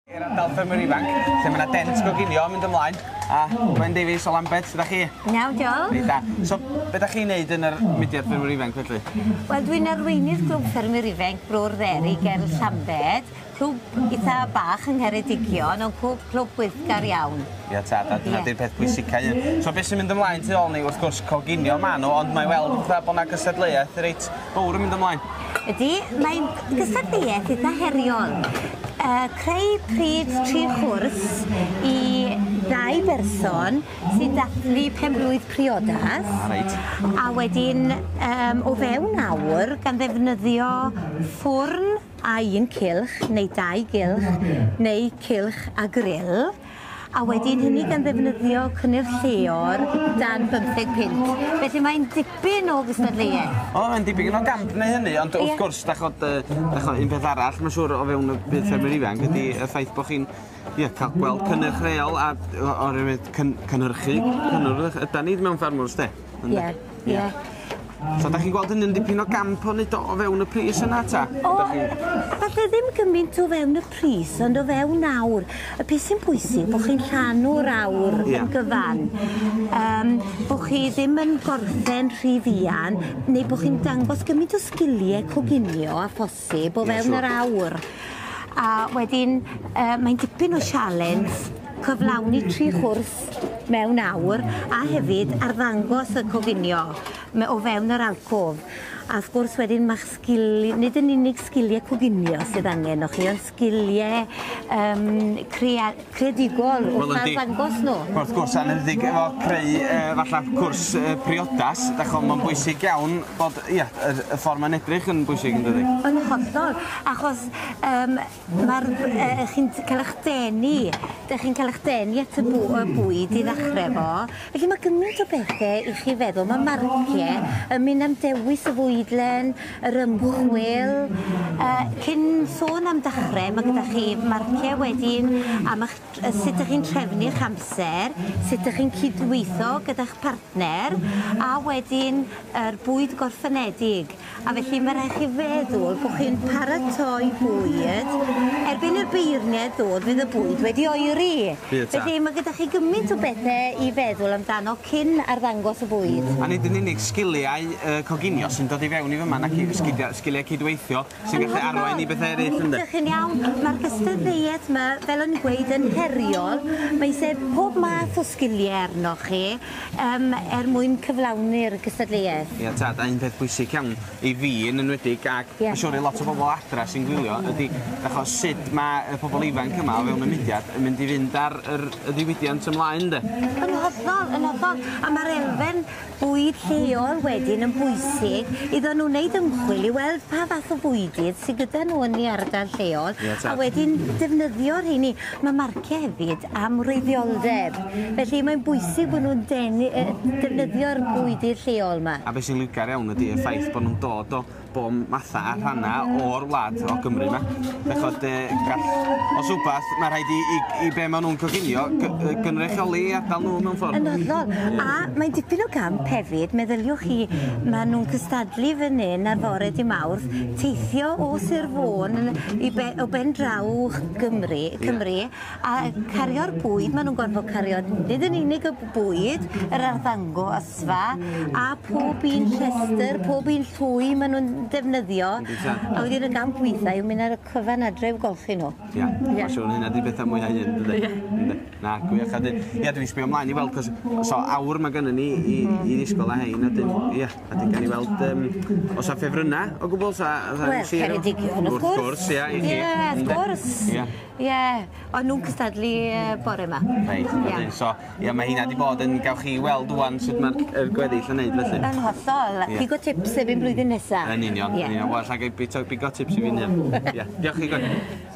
I'r ardal ffermwyr ifanc, lle mae yna dent goginio yn mynd ymlaen, a Gwen Davies o Lambed, sydd â chi? Iawn, diolch. Reit da. So, beth ydych chi'n neud yn yr mudiad ffermwyr ifanc felly? Wel, dwi'n arweinydd Glwb Ffermwyr Ifanc Bro'r Dderi ger Llambed. Clwb itha bach yng Ngheredigion ond clwb, clwb gweithgar iawn. Ia tad, a dyna 'di'r peth pwysica un. So be' sy'n mynd ymlaen tu ôl ni wrth gwrs coginio ma' nw ond mae weld fatha bo' 'na gystadleuaeth reit fowr yn mynd ymlaen. Ydi, mae'n gystadleuaeth itha heriol. Yy creu pryd tri chwrs i ddau berson sy'n dathlu pen-blwydd priodas. Ah reit. A wedyn yym o fewn awr gan ddefnyddio ffwrn a un cylch neu dau gylch neu cylch a gril, a wedyn hynny gan ddefnyddio cynnyrch lleol dan bymtheg punt. Felly mae'n dipyn o gystadleuaeth. O, mae'n dipyn o gamp neu hynny, ond wrth gwrs, da chod, da chod, un peth arall, mae'n siŵr o fewn y byd ffermwyr ifanc, ydy y ffaith bod chi'n ie, cael gweld cynnyrch reol a oherwydd cyn, cynhyrchu cynnyrch yda ni mewn ffarmwrs, de? Ie. Ie. So 'dach chi'n gweld hynny'n dipyn o gamp o neud o o fewn y pris yna 'ta? O! 'Dach chi'n... Falle ddim gymint o fewn y pris ond o fewn awr. Y peth sy'n bwysig bo' chi'n rhannu'r awr... Ie. ...yn gyfan yym bo' chi ddim yn gorffen rhy fuan neu bo' chi'n dangos gymint o sgilie coginio â phosib. posib o fewn yr awr a wedyn yy mae'n dipyn o sialens cyflawni tri chwrs mewn awr a hefyd arddangos y coginio me- o fewn yr alcôf a wrth gwrs wedyn ma'ch sgil- nid yn unig sgilie coginio sydd angen o chi on' sgilie yym crea- creadigol wrth Wel yndi. arddangos nhw. Wrth gwrs anendig efo creu yy falla cwrs yy priodas dach ch'mo' ma'n bwysig iawn bod ia yr y ffor ma'n edrych yn bwysig yndydi? Yn hollol achos yym ma'r yy chi'n t- ca'l 'ych denu 'dych chi'n ca'l 'ych denu at y bw- y bwyd i ddechre efo felly ma' gymint o bethe i chi feddwl ma' marcie yn myn' am dewis y fwydlen yr ymchwil. Cyn sôn am dechrau, mae gyda chi marciau wedyn am eich, sut ydych chi'n trefnu eich amser, sut ydych chi'n cydweithio gyda'ch partner, a wedyn yr bwyd gorffenedig. A felly mae rhaid chi feddwl bod chi'n paratoi bwyd, erbyn i'r beirniaid ddod fydd y bwyd wedi oeri. Bydd tad. Felly mae gyda chi gymaint o bethe i feddwl amdano cyn arddangos y bwyd. A nid yn unig sgiliau yy coginio sy'n dod i fewn i fyma nac i- sgidia- sgiliau cydweithio sy'n gallu arwain i bethe eryll ynde? Ydych chi'n iawn. Mae'r gystadleuaeth 'ma, fel o'n i'n gweud, yn heriol. Mae isie pob math o sgilie arnoch chi yym er mwyn cyflawni'r gystadleuaeth. Ie tad, a un peth bwysig iawn, i fi yn enwedig ac yeah. yn siŵr i lot o bobl adra sy'n gwylio ydy achos sut mae y pobl ifanc yma o fewn y mudiad yn mynd i fynd ar yr, y ddiwydiant ymlaen de. Yn hollol, yn hollol. A mae'r elfen bwyd lleol wedyn yn bwysig iddo nhw wneud ymchwil i weld pa fath o fwydydd sydd gyda nhw yn ei ardal lleol yeah, a wedyn defnyddio'r rheini. Mae marciau hefyd amwreiddioldeb felly mae'n bwysig bod nhw'n denu yy defnyddio'r bwydydd lleol 'ma. A be' sy'n liwgar iawn ydi y ffaith bo' nw'n dod o bo' matha a rhanna o'r wlad o Gymru 'ma. Dach ch'od yy gall... Os wbath ma' rhaid i i i be' ma' nw'n coginio gy- yy gynrychioli 'u ardal nw mewn ffordd. Yn hollol a mae'n dipyn o gamp hefyd meddyliwch chi ma' nw'n cystadlu fyn 'yn ar fore dy' Mawrth teithio o Sir Fôn yn i be- o ben draw Gymru Cymru A cario'r bwyd, maen nhw'n gorfod cario nid yn unig y bwyd, yr arddangosfa, a pob un llestr, pob un llwy maen nhw'n defnyddio. A wedyn y gamp weithiau yw mynd ar y cyfan adre i'w golchi nhw. Ia, yeah. siwr hynna di bethau mwy hyn, dydy? Yeah. Na, gwych. A dyn, ia, dwi'n sbio ymlaen i weld, cos so, awr mae gennym ni i, i ddisgol a hein, a dyn, ia, a dyn gan i weld, um, os a ffefrynnau o gwbl, sa... Wel, Ceredigion, wrth gwrs. Wrth gwrs, ia, i chi. Ia, wrth gwrs. Ia. Ie, o'n nhw'n cystadlu bore yma. Reit, yeah. so, ie, mae hynna wedi bod yn, gawch chi weld wwan sut mae'r gweddill yn neud felly. Yn hollol, yeah. pigo tips efo'n blwyddyn nesaf. Yn union, yn union, well, ag i pigo tips i fi nef. Ie, diolch chi gwrdd.